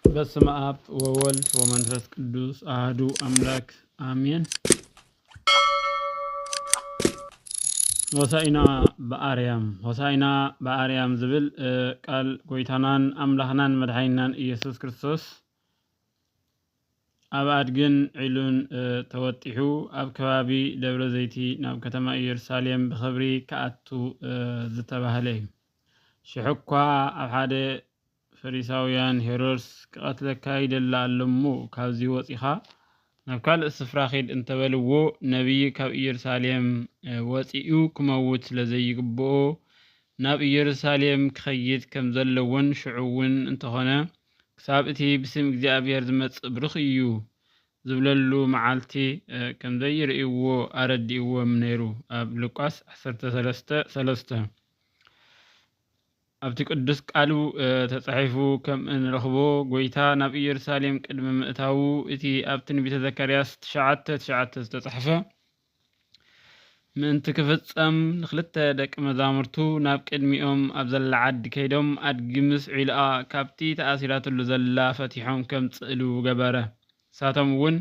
በስመ አብ ወወልድ ወመንፈስ ቅዱስ አህዱ አምላክ አሜን። ሆሳኢና በአርያም ሆሳኢና በአርያም ዝብል ቃል ጎይታናን አምላኽናን መድሓኒናን ኢየሱስ ክርስቶስ ኣብ ኣድግን ዒሉን ተወጢሑ ኣብ ከባቢ ደብረ ዘይቲ ናብ ከተማ ኢየሩሳሌም ብኽብሪ ክኣቱ ዝተባህለ እዩ። ሽሕኳ ኣብ ሓደ ፈሪሳውያን ሄሮድስ ክቐትለካ ይደሊ ኣሎ እሞ ካብዚ ወጺኻ ናብ ካልእ ስፍራ ኺድ እንተ በልዎ ነብዪ ካብ ኢየሩሳሌም ወጺኡ ክመውት ስለ ዘይግብኦ ናብ ኢየሩሳሌም ክኸይድ ከም ዘለዎን ሽዑ እውን እንተኾነ ክሳብ እቲ ብስም እግዚኣብሔር ዝመጽእ ብሩኽ እዩ ዝብለሉ መዓልቲ ከም ዘይርእይዎ ኣረዲእዎም ነይሩ ኣብ ሉቃስ ዓሰርተ ሰለስተ ሰለስተ ኣብቲ ቅዱስ ቃሉ ተጻሒፉ ከም እንረኽቦ፣ ጐይታ ናብ ኢየሩሳሌም ቅድሚ ምእታዉ፣ እቲ ኣብ ትንቢተ ዘካርያስ ትሽዓተ ትሽዓተ ዝተጻሕፈ ምእንቲ ክፍጸም፣ ንኽልተ ደቂ መዛሙርቱ ናብ ቅድሚኦም ኣብ ዘላ ዓዲ ከይዶም ኣድጊ ምስ ዒልኣ ካብቲ ተኣሲራትሉ ዘላ ፈቲሖም ከምጽእሉ ገበረ። ንሳቶም እውን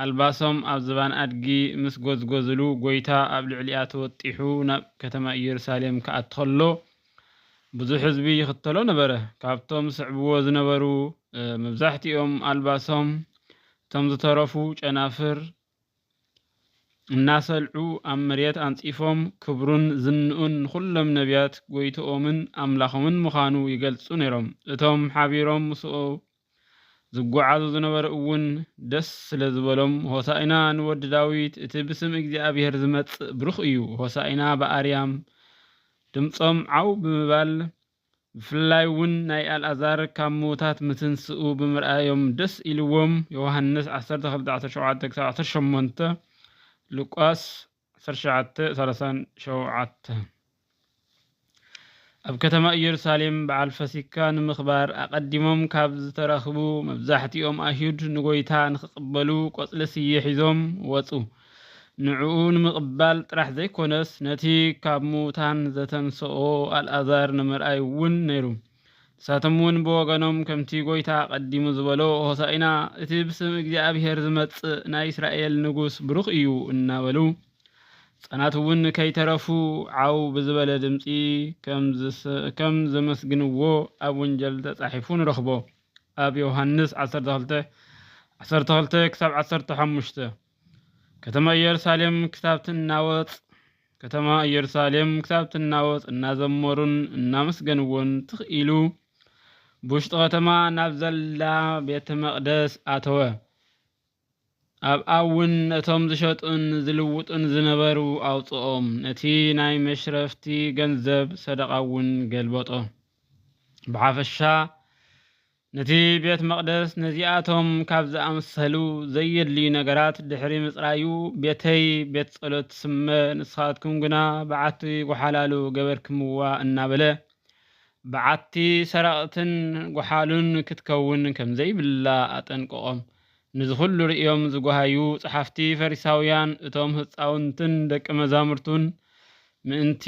ኣልባሶም ኣብ ዝባን ኣድጊ ምስ ጐዝጐዝሉ፣ ጐይታ ኣብ ልዕሊኣ ተወጢሑ ናብ ከተማ ኢየሩሳሌም ክኣቱ ኸሎ፣ ብዙሕ ህዝቢ ይኽተሎ ነበረ። ካብቶም ዝስዕብዎ ዝነበሩ መብዛሕትኦም ኣልባሶም፣ እቶም ዝተረፉ ጨናፍር እናሰልዑ ኣብ መሬት ኣንጺፎም፣ ክብሩን ዝንኡን ንዅሎም ነብያት ጐይትኦምን ኣምላኾምን ምዃኑ ይገልጹ ነይሮም። እቶም ሓቢሮም ምስኡ ዝጐዓዙ ዝነበሩ እውን ደስ ስለ ዝበሎም፣ ሆሣእና ንወዲ ዳዊት፣ እቲ ብስም እግዚኣብሔር ዚመጽእ ብሩኽ እዩ፣ ሆሣእና በኣርያም፣ ድምጾም ዓው ብምባል፣ ብፍላይ እውን ናይ ኣልኣዛር ካብ ምዉታት ምትንስኡ ብምርኣዮም ደስ ኢልዎም፣ ዮሐንስ ዓሰርተ ክልተ ዓሰርተ ሸውዓተ ክሳብ ዓሰርተ ሸሞንተ፣ ሉቃስ። ዓሰርተ ትሽዓተ ሰላሳን ሸውዓተን ኣብ ከተማ ኢየሩሳሌም በዓል ፈሲካ ንምኽባር ኣቐዲሞም ካብ ዝተረኽቡ መብዛሕቲኦም ኣይሁድ ንጎይታ ንክቕበሉ ቆጽሊ ስየ ሒዞም ወጹ። ንዕኡ ንምቕባል ጥራሕ ዘይኮነስ ነቲ ካብ ምዉታን ዘተንሰኦ ኣልኣዛር ንምርኣይ እውን ነይሩ። ንሳቶም እውን ብወገኖም ከምቲ ጐይታ ኣቐዲሙ ዝበሎ ሆሣኢና እቲ ብስም እግዚኣብሔር ዝመጽእ ናይ እስራኤል ንጉሥ ብሩኽ እዩ እናበሉ ሕፃናት እውን ከይተረፉ ዓው ብዝበለ ድምፂ ከም ዘመስግንዎ ኣብ ወንጀል ተጻሒፉ ንረኽቦ ኣብ ዮሐንስ 12 12 ክሳብ 15 ከተማ ኢየሩሳሌም ክሳብ ትናወጽ ከተማ ኢየሩሳሌም ክሳብ ትናወጽ እናዘመሩን እናመስገንዎን ትኽ ኢሉ ብውሽጢ ከተማ ናብ ዘላ ቤተ መቕደስ ኣተወ። ኣብኣ እውን ነቶም ዝሸጡን ዝልውጡን ዝነበሩ ኣውፅኦም፣ ነቲ ናይ መሽረፍቲ ገንዘብ ሰደቓ እውን ገልበጦ። ብሓፈሻ ነቲ ቤት መቕደስ ነዚኣቶም ካብ ዝኣመሰሉ ዘየድልዩ ነገራት ድሕሪ ምጽራዩ፣ ቤተይ ቤት ጸሎት ትስመ፣ ንስኻትኩም ግና በዓቲ ጐሓላሉ ገበርክምዋ እናበለ፣ በዓቲ ሰረቕትን ጐሓሉን ክትከውን ከም ዘይብላ ኣጠንቀቖም። ነዚ ዅሉ ርእዮም ዝጐሃዩ ጸሓፍቲ ፈሪሳውያን እቶም ህጻውንትን ደቀ መዛሙርቱን ምእንቲ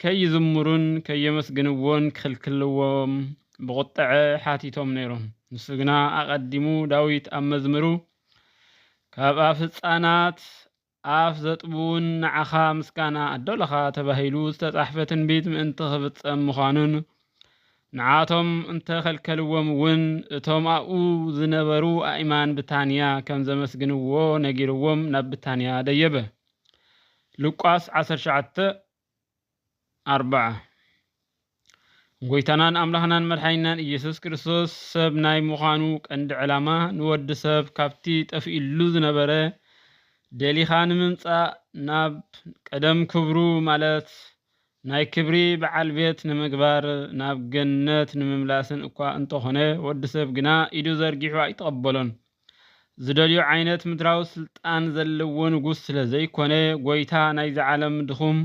ከይዝምሩን ከየመስግንዎን ክኽልክልዎም ብቝጥዐ ሓቲቶም ነይሮም። ንሱ ግና ኣቐዲሙ ዳዊት ኣብ መዝምሩ፣ ካብ ኣፍ ህጻናት ኣፍ ዘጥብዉን ንዓኻ ምስጋና ኣዶልኻ ተባሂሉ ዝተጻሕፈ ትንቢት ምእንቲ ክፍጸም ምዃኑን ንዓቶም እንተ ኸልከልዎም እውን እቶም ኣብኡ ዝነበሩ ኣእማን ብታንያ ከም ዘመስግንዎ ነጊርዎም ናብ ብታንያ ደየበ። ሉቃስ ዓሰርተ ትሽዓተ ኣርብዓ ጎይታናን ኣምላኽናን መድሓኒናን ኢየሱስ ክርስቶስ ሰብ ናይ ምዃኑ ቀንዲ ዕላማ ንወዲ ሰብ ካብቲ ጠፍኢሉ ዝነበረ ደሊኻ ንምምጻእ ናብ ቀደም ክብሩ ማለት ናይ ክብሪ በዓል ቤት ንምግባር ናብ ገነት ንምምላስን እኳ እንተኾነ ወዲ ሰብ ግና ኢዱ ዘርጊሑ ኣይተቐበሎን። ዝደልዮ ዓይነት ምድራዊ ስልጣን ዘለዎ ንጉስ ስለ ዘይኮነ፣ ጎይታ ናይዚ ዓለም ድኹም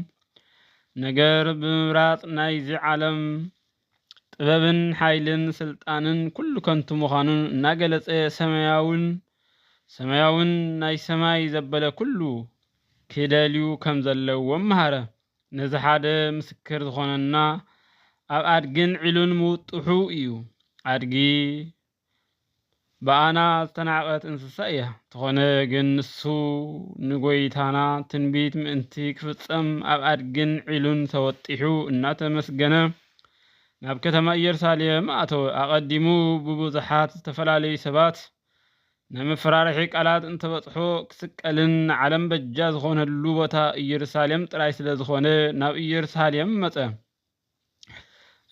ነገር ብምምራጽ ናይዚ ዓለም ጥበብን ሓይልን ስልጣንን ኩሉ ከንቱ ምዃኑ እናገለጸ ሰማያውን ሰማያውን ናይ ሰማይ ዘበለ ኩሉ ክደልዩ ከም ዘለዎም መሃረ። ነዚ ሓደ ምስክር ዝኾነና ኣብ ኣድግን ዒሉን ምውጥሑ እዩ። ኣድጊ ብኣና ዝተናቀት እንስሳ እያ። ተኾነ ግን ንሱ ንጎይታና ትንቢት ምእንቲ ክፍጸም ኣብ ኣድግን ዒሉን ተወጢሑ እናተመስገነ ናብ ከተማ ኢየሩሳሌም ኣተወ። ኣቐዲሙ ብብዙሓት ዝተፈላለዩ ሰባት ናይ መፈራርሒ ቃላት እንተበጽሖ ክስቀልን ንዓለም በጃ ዝኾነሉ ቦታ ኢየሩሳሌም ጥራይ ስለ ዝኾነ ናብ ኢየሩሳሌም መጸ።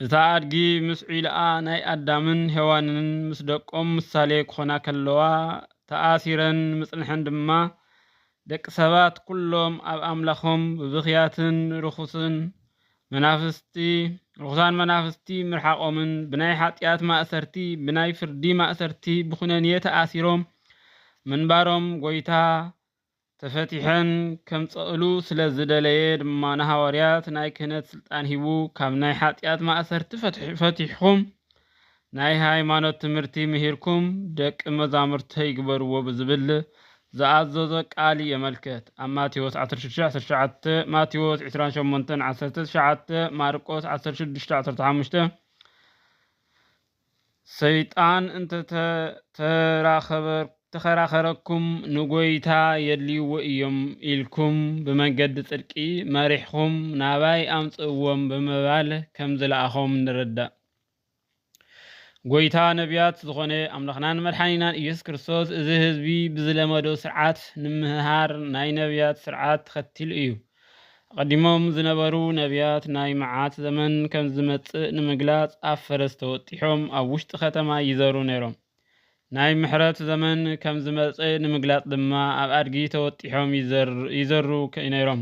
እታ ኣድጊ ምስ ዒልኣ ናይ ኣዳምን ሄዋንን ምስ ደቆም ምሳሌ ክኾና ከለዋ ተኣሲረን ምጽንሐን ድማ ደቂ ሰባት ኩሎም ኣብ ኣምላኾም ብብኽያትን ርኹስን መናፍስቲ ርኹሳን መናፍስቲ ምርሓቆምን ብናይ ሓጢኣት ማእሰርቲ ብናይ ፍርዲ ማእሰርቲ ብኹነኔ ተኣሲሮም ምንባሮም ጎይታ ተፈቲሐን ከምጸእሉ ስለ ዝደለየ ድማ ንሃዋርያት ናይ ክህነት ስልጣን ሂቡ ካብ ናይ ሓጢኣት ማእሰርቲ ፈቲሕኩም ናይ ሃይማኖት ትምህርቲ ምሂርኩም ደቂ መዛሙርተይ ግበርዎ ብዝብል ዝኣዘዞ ቃል የመልክት ኣብ ማቴዎስ ዓሰርተ ሽዱሽተ ዓሰርተ ትሽዓተ ማቴዎስ ዕስራን ሸሞንተን ዓሰርተ ትሽዓተ ማርቆስ ዓሰርተ ሽዱሽተ ዓሰርተ ሓሙሽተ ሰይጣን እንተ ተኸራኸረኩም ንጐይታ የድልይዎ ኢዮም ኢልኩም ብመንገዲ ጽድቂ መሪሕኹም ናባይ ኣምጽእዎም ብምባል ከም ዝለኣኾም ንርዳእ። ጐይታ ነቢያት ዝኾነ ኣምላኽናን መድሓኒናን ኢየሱስ ክርስቶስ እዚ ህዝቢ ብዝለመዶ ስርዓት ንምህሃር ናይ ነቢያት ስርዓት ተኸቲሉ እዩ። ኣቐዲሞም ዝነበሩ ነብያት ናይ መዓት ዘመን ከም ዝመጽእ ንምግላጽ ኣብ ፈረስ ተወጢሖም ኣብ ውሽጢ ከተማ ይዘሩ ነይሮም። ናይ ምሕረት ዘመን ከም ዝመጸ ንምግላጽ ድማ ኣብ ኣድጊ ተወጢሖም ይዘሩ ነይሮም።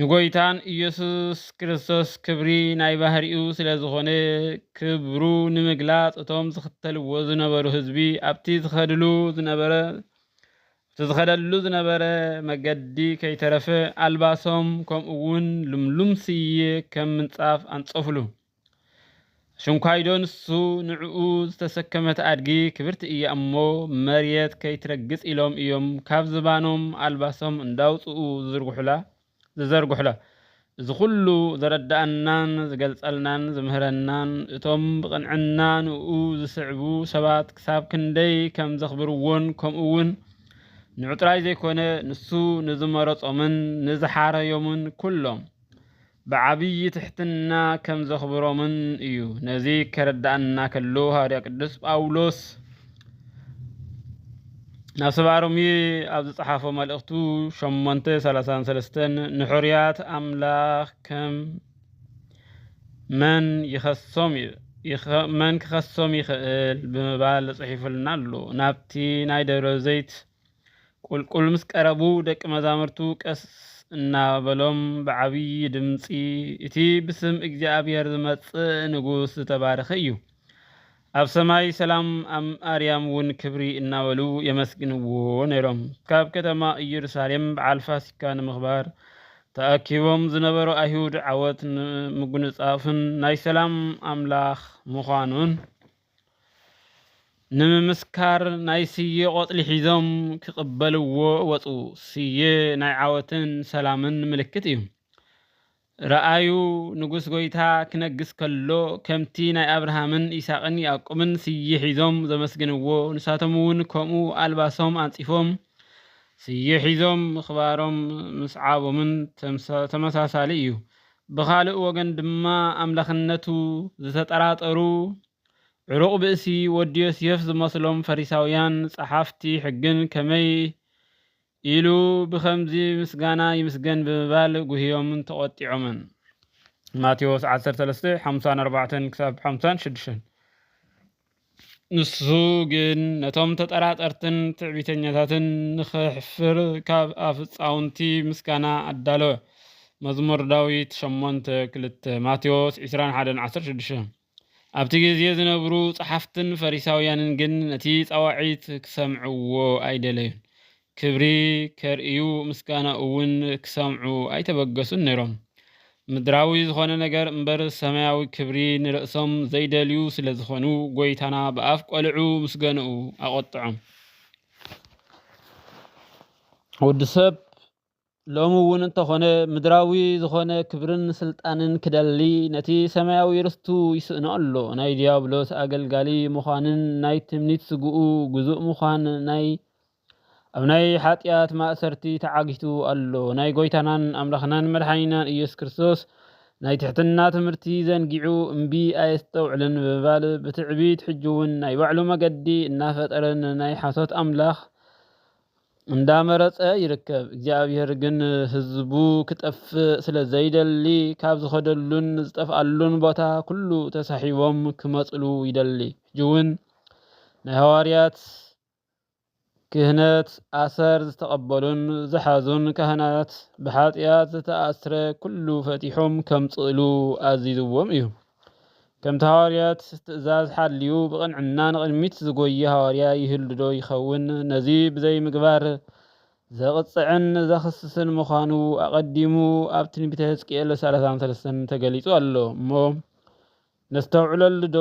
ንጎይታን እየሱስ ክርስቶስ ክብሪ ናይ ባህሪኡ ስለ ዝኾነ ክብሩ ንምግላጽ እቶም ዝኽተልዎ ዝነበሩ ህዝቢ ኣብቲ ዝኸድሉ ዝነበረ እቲ ዝኸደሉ ዝነበረ መገዲ ከይተረፈ ኣልባሶም ከምኡውን ልምሉም ስየ ከም ምንጻፍ ኣንጸፉሉ። ሽንኳይዶ ንሱ ንዕኡ ዝተሰከመት ኣድጊ ክብርቲ እያ እሞ መርየት ከይትረግጽ ኢሎም እዮም ካብ ዝባኖም ኣልባሶም እንዳውጽኡ ዝዝርግሑላ ዝዘርግሑላ እዚ ኩሉ ዘረዳኣናን ዝገልጸልናን ዝምህረናን እቶም ብቕንዕና ንኡ ዝስዕቡ ሰባት ክሳብ ክንደይ ከም ዘኽብርዎን ከምኡውን ንዑ ጥራይ ዘይኮነ ንሱ ንዝመረጾምን ንዝሓረዮምን ኩሎም ብዓብዪ ትሕትና ከም ዘኽብሮምን እዩ። ነዚ ከረድኣና ከሎ ሃዋርያ ቅዱስ ጳውሎስ ናብ ሰብኣ ሮሜ ኣብ ዝጸሓፎ መልእኽቱ ሸሞንተ ሰላሳን ሰለስተን ንሕሩያት ኣምላኽ ከም መን ይኸሶም እዩ መን ክኸሶም ይኽእል ብምባል ጽሒፉልና ኣሎ። ናብቲ ናይ ደብረ ዘይት ቍልቍል ምስ ቀረቡ፣ ደቂ መዛሙርቱ ቀስ እናበሎም ብዓብዪ ድምጺ፣ እቲ ብስም እግዚኣብሄር ዚመጽእ ንጉስ ዝተባረኸ እዩ፣ ኣብ ሰማይ ሰላም፣ ኣብ ኣርያም እውን ክብሪ እናበሉ የመስግንዎ ነይሮም። ካብ ከተማ ኢየሩሳሌም በዓል ፋሲካ ንምኽባር ተኣኪቦም ዝነበሩ ኣይሁድ ዓወት ንምጕንጻፍን ናይ ሰላም ኣምላኽ ምዃኑን፣ ንምምስካር ናይ ስየ ቆፅሊ ሒዞም ክቕበልዎ ወፁ። ስየ ናይ ዓወትን ሰላምን ምልክት እዩ። ረኣዩ ንጉስ ጎይታ ክነግስ ከሎ ከምቲ ናይ ኣብርሃምን ይስሐቅን ያዕቆብን ስየ ሒዞም ዘመስግንዎ ንሳቶም እውን ከምኡ ኣልባሶም ኣንፂፎም ስየ ሒዞም ምኽባሮም ምስዓቦምን ተመሳሳሊ እዩ። ብኻልእ ወገን ድማ ኣምላኽነቱ ዝተጠራጠሩ ዕሩቕ ብእሲ ወዲ ዮስየፍ ዝመስሎም ፈሪሳውያን ጸሓፍቲ ሕግን ከመይ ኢሉ ብኸምዚ ምስጋና ይምስገን ብምባል ጉህዮምን ተቖጢዖምን። ማቴዎስ ዓሰርተ ሰለስተ፣ ሓምሳን ኣርባዕተን ክሳብ ሓምሳን ሽዱሽተን። ንሱ ግን ነቶም ተጠራጠርትን ትዕቢተኛታትን ንኼሕፍር ካብ ኣፍጻውንቲ ምስጋና ኣዳለወ። መዝሙር ዳዊት ሸሞንተ ክልተ፣ ማቴዎስ ዕስራን ሓደን ዓሰርተ ሽዱሽተን። ኣብቲ ግዜ ዝነብሩ ጸሓፍትን ፈሪሳውያንን ግን ነቲ ጻዋዒት ኪሰምዕዎ ኣይደለዩን። ክብሪ ኬርእዩ፣ ምስጋናኡውን ኪሰምዑ ኣይተበገሱን ነይሮም። ምድራዊ ዝዀነ ነገር እምበር፣ ሰማያዊ ክብሪ ንርእሶም ዘይደልዩ ስለ ዝዀኑ፣ ጐይታና ብኣፍ ቈልዑ ምስገንኡ ኣቖጥዖም። ወዲ ሰብ ሎሚ እውን እንተኾነ ምድራዊ ዝኾነ ክብርን ስልጣንን ክደሊ ነቲ ሰማያዊ ርስቱ ይስእኖ ኣሎ። ናይ ዲያብሎስ ኣገልጋሊ ምዃንን ናይ ትምኒት ስግኡ ግዙእ ምዃን ናይ ኣብ ናይ ሓጢኣት ማእሰርቲ ተዓጊቱ ኣሎ። ናይ ጎይታናን ኣምላኽናን መድሓኒናን ኢየሱስ ክርስቶስ ናይ ትሕትና ትምህርቲ ዘንጊዑ እምቢ ኣየስተውዕልን ብምባል ብትዕቢት ሕጂውን ናይ ባዕሉ መገዲ እናፈጠረን ናይ ሓሶት ኣምላኽ እንዳመረጸ ይርከብ እግዚኣብሔር ግን ህዝቡ ክጠፍእ ስለ ዘይደሊ ካብ ዝኸደሉን ዝጠፍኣሉን ቦታ ኩሉ ተሳሒቦም ክመጽሉ ይደሊ ሕጂውን ናይ ሃዋርያት ክህነት ኣሰር ዝተቐበሉን ዝሓዙን ካህናት ብሓጢኣት ዝተኣስረ ኩሉ ፈቲሖም ከምጽእሉ ኣዚዝዎም እዩ ከምቲ ሃዋርያት ትእዛዝ ሓልዩ ብቕንዕና ንቕድሚት ዝጎዪ ሃዋርያ ይህሉዶ ይኸውን? ነዚ ብዘይምግባር ዘቕጽዕን ዘኽስስን ምዃኑ ኣቐዲሙ ኣብ ትንቢተ ሕዝቅኤል ሰላሳን ሰለስተን ተገሊጹ ኣሎ እሞ ነስተውዕለሉዶ?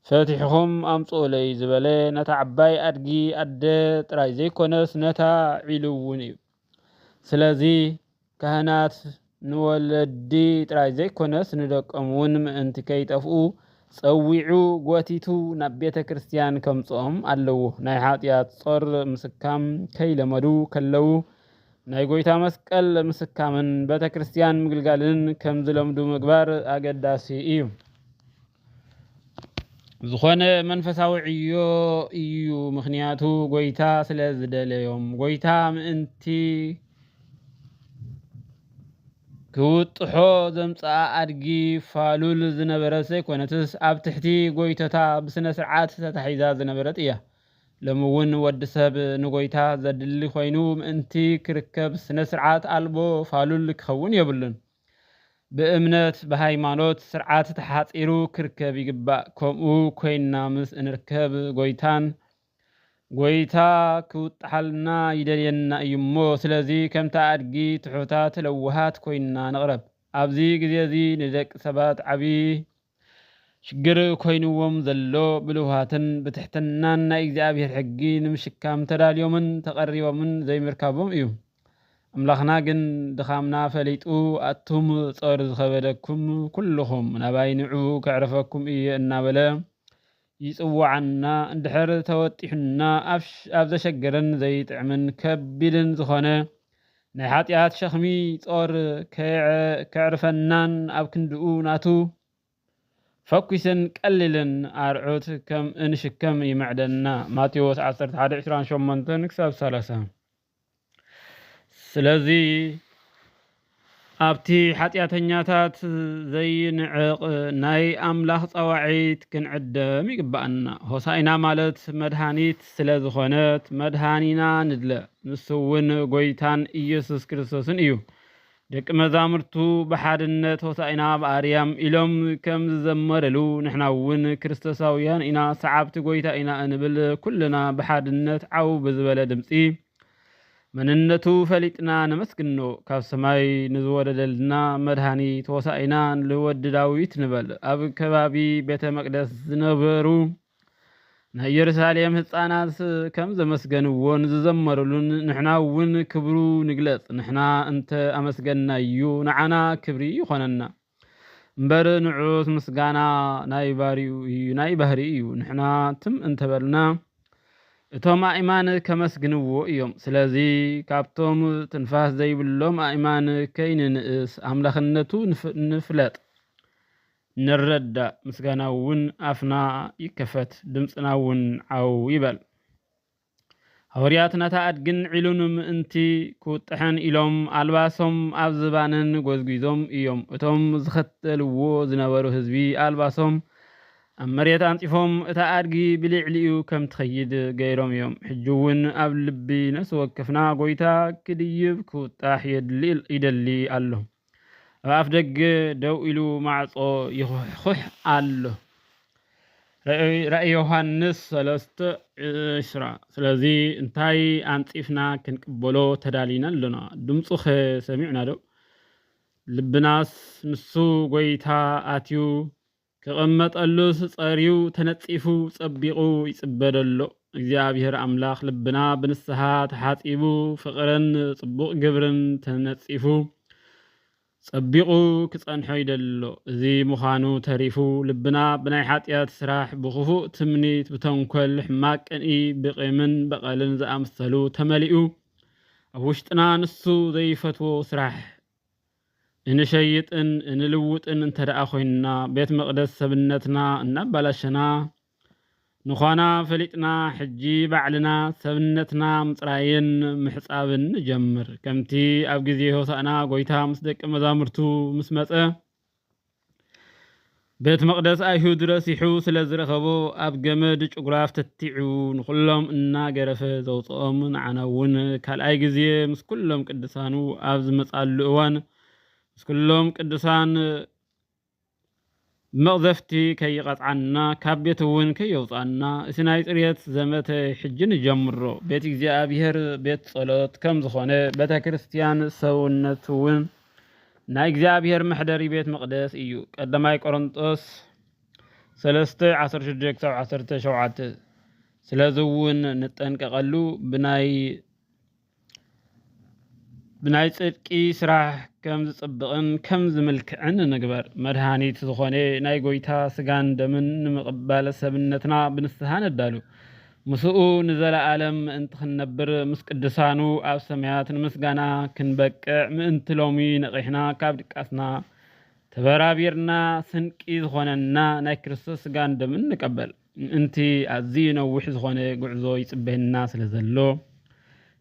ፈቲሕኹም ኣምጽኡለይ ዝበለ ነታ ዓባይ ኣድጊ ኣደ ጥራይ ዘይኮነስ ነታ ዒሉ እውን እዩ። ስለዚ ካህናት ንወለዲ ጥራይ ዘይኮነስ ንደቆም እውን ምእንቲ ከይጠፍኡ ጸዊዑ ጎቲቱ ናብ ቤተ ክርስቲያን ከምጽኦም ኣለዎ። ናይ ሓጢኣት ጾር ምስካም ከይለመዱ ከለዉ ናይ ጎይታ መስቀል ምስካምን ቤተ ክርስቲያን ምግልጋልን ከምዝለምዱ ምግባር ኣገዳሲ እዩ። ዝኾነ መንፈሳዊ ዕዮ እዩ ምክንያቱ ጎይታ ስለ ዝደለዮም ጎይታ ምእንቲ ክውጥሖ ዘምጽኣ ኣድጊ ፋሉል ዝነበረት ዘይኮነትስ ኣብ ትሕቲ ጎይቶታ ብስነ ስርዓት ተታሒዛ ዝነበረት እያ። ሎሚ እውን ወዲ ሰብ ንጎይታ ዘድሊ ኮይኑ ምእንቲ ክርከብ ስነ ስርዓት ኣልቦ ፋሉል ክኸውን የብሉን። ብእምነት ብሃይማኖት ስርዓት ተሓጺሩ ክርከብ ይግባእ ከምኡ ኮይንና ምስ እንርከብ ጎይታን ጎይታ ክውጣሓልና ይደልየና እዩ እሞ ስለዚ ከምቲ ኣድጊ ትሑታት ለዋሃት ኮይንና ንቕረብ ኣብዚ ግዜ እዚ ንደቂ ሰባት ዓቢ ሽግር ኮይንዎም ዘሎ ብልውሃትን ብትሕትናን ናይ እግዚኣብሔር ሕጊ ንምሽካም ተዳልዮምን ተቐሪቦምን ዘይምርካቦም እዩ። ኣምላኽና ግን ድኻምና ፈሊጡ ኣቱም ጾር ዝኸበደኩም ኩሉኹም ናባይ ንዑ ከዕርፈኩም እየ እናበለ ይጽውዓና እንድሕር ተወጢሑና ኣብ ዘሸግርን ዘይጥዕምን ከቢድን ዝኾነ ናይ ሓጢኣት ሸኽሚ ጾር ከየዕርፈናን ኣብ ክንድኡ ናቱ ፈኲስን ቀሊልን ኣርዑት ከም እንሽከም ይምዕደና። ማቴዎስ ዓሰርተ ሓደ ዕስራን ሸሞንተን ክሳብ ሰላሳ። ስለዚ ኣብቲ ሓጢኣተኛታት ዘይንዕቕ ናይ ኣምላኽ ጸዋዒት ክንዕደም ይግብኣና። ሆሳኢና ማለት መድሃኒት ስለ ዝኾነት መድሃኒና ንድለ፣ ንሱ እውን ጎይታን ኢየሱስ ክርስቶስን እዩ። ደቂ መዛሙርቱ ብሓድነት ሆሣዕና ኣብ ኣርያም ኢሎም ከም ዝዘመርሉ ንሕና እውን ክርስቶሳውያን ኢና ሰዓብቲ ጐይታ ኢና እንብል ኩልና ብሓድነት ዓው ብዝበለ ድምፂ መንነቱ ፈሊጥና ነመስግኖ ካብ ሰማይ ንዝወረደልና መድኃኒት ሆሣዕና ንወዲ ዳዊት ንበል ኣብ ከባቢ ቤተ መቅደስ ዝነበሩ ናይ የሩሳሌም ህፃናት ከም ዘመስገንዎን ዝዘመሩሉን ንሕና እውን ክብሩ ንግለፅ ንሕና እንተ ኣመስገንናዩ ንዓና ክብሪ ይኾነና እምበር ንዑት ምስጋና ናይ ባሪኡ እዩ ናይ ባህሪ እዩ ንሕና ትም እንተበልና እቶም ኣእማን ከመስግንዎ እዮም። ስለዚ ካብቶም ትንፋስ ዘይብሎም ኣእማን ከይንንእስ ኣምላኽነቱ ንፍለጥ። ንረዳእ ምስጋና እውን ኣፍና ይከፈት ድምጽና እውን ዓው ይበል። ሃወርያት ነታ ኣድግን ዒሉን ምእንቲ ክውጥሐን ኢሎም ኣልባሶም ኣብ ዝባነን ጎዝጒዞም እዮም እቶም ዝኸተልዎ ዝነበሩ ህዝቢ ኣልባሶም ኣብ መሬት ኣንጽፎም እታ ኣድጊ ብልዕሊኡ ከም ትኸይድ ገይሮም እዮም ሕጂ እውን ኣብ ልቢ ነፍሲ ወከፍና ጎይታ ክድይብ ክውጣሕ ይደሊ ኣሎ ኣብ ኣፍደገ ደው ኢሉ ማዕጾ ይዅሕዅሕ ኣሎ። ራእይ ዮሃንስ ሰለስተ ዕስራ ስለዚ እንታይ ኣንጺፍና ክንቅበሎ ተዳሊና ኣሎና? ድምጹኸ ሰሚዕናዶ? ልብናስ ንሱ ጐይታ ኣትዩ ክቅመጠሉስ ጸርዩ ተነጺፉ ጸቢቁ ይጽበ ደሎ እግዚኣብሔር ኣምላክ ልብና ብንስሃ ተሓጺቡ ፍቅርን ጽቡቅ ግብርን ተነጺፉ ጸቢቁ ክጸንሖ ይደሎ እዚ ምዃኑ ተሪፉ ልብና ብናይ ሓጥያት ስራሕ ብክፉእ ትምኒት ብተንኮል ሕማቅ ቅንኢ ብቂምን በቀልን ዝኣምሰሉ ተመሊኡ ኣብ ውሽጥና ንሱ ዘይፈትዎ ስራሕ እንሸይጥን እንልውጥን እንተደኣ ኮይንና ቤት መቅደስ ሰብነትና እናባላሸና ንዃና ፈሊጥና ሕጂ ባዕልና ሰብነትና ምጽራይን ምሕጻብን ንጀምር ከምቲ ኣብ ግዜ ሆሳእና ጎይታ ምስ ደቂ መዛሙርቱ ምስ መጸ ቤት መቕደስ ኣይሁድ ረሲሑ ስለ ዝረኸቦ ኣብ ገመድ ጭጉራፍ ተቲዑ ንዅሎም እናገረፈ ዘውፅኦም ንዓና እውን ካልኣይ ግዜ ምስ ኩሎም ቅዱሳኑ ኣብ ዝመፃሉ እዋን ምስ ኩሎም ቅዱሳን መቕዘፍቲ ከይቐፅዓና ካብ ቤት እውን ከየውፅኣና እቲ ናይ ፅርየት ዘመተ ሕጂ ንጀምሮ ቤት እግዚኣብሔር ቤት ጸሎት ከም ዝኾነ ቤተ ክርስቲያን ሰውነት እውን ናይ እግዚኣብሔር መሕደሪ ቤት መቕደስ እዩ። ቀዳማይ ቆሮንጦስ ሰለስተ ዓሰርተ ሽዱሽተ ክሳብ ዓሰርተ ሸውዓተ ስለዚ እውን ንጠንቀቐሉ ብናይ ብናይ ጽድቂ ስራሕ ከም ዝጽብቕን ከም ዝምልክዕን ንግበር መድሃኒት ዝኾነ ናይ ጎይታ ስጋን ደምን ንምቕባል ሰብነትና ብንስሓ ነዳሉ ምስኡ ንዘለኣለም ምእንቲ ክንነብር ምስ ቅዱሳኑ ኣብ ሰማያት ንምስጋና ክንበቅዕ ምእንቲ ሎሚ ነቒሕና ካብ ድቃስና ተበራቢርና ስንቂ ዝኾነና ናይ ክርስቶስ ስጋን ደምን ንቀበል ምእንቲ ኣዝዩ ነዊሕ ዝኾነ ጉዕዞ ይጽበየና ስለ ዘሎ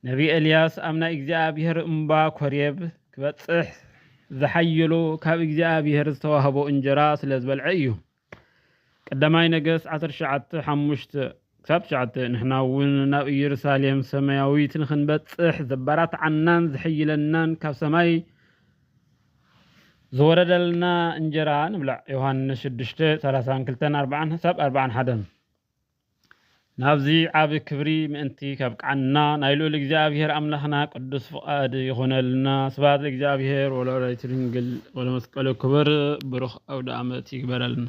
ነቢ ኤልያስ ኣብ ናይ እግዚኣብሔር እምባ ኮሬብ ክበጽሕ ዝሓየሎ ካብ እግዚኣብሔር ዝተዋህቦ እንጀራ ስለ ዝበልዐ እዩ። ቀዳማይ ነገስት ዓሰርተ ትሽዓተ ሓሙሽተ ክሳብ ትሽዓተ ንሕና እውን ናብ ኢየሩሳሌም ሰማያዊት ንኽንበጽሕ ዘበራትዓናን ዝሕይለናን ካብ ሰማይ ዝወረደልና እንጀራ ንብላዕ ዮሃንስ ሽዱሽተ ሰላሳን ክልተን ኣርባዓን ክሳብ ኣርባዓን ሓደን ናብዚ ዓቢ ክብሪ ምእንቲ ከብቅዓና ናይ ልኡል እግዚኣብሔር ኣምላኽና ቅዱስ ፍቓድ ይኹነልና። ስብሐት ለእግዚኣብሔር ወለወላዲቱ ድንግል ወለመስቀሉ ክብር። ብሩኽ ኣውደ ዓመት ይግበረልና።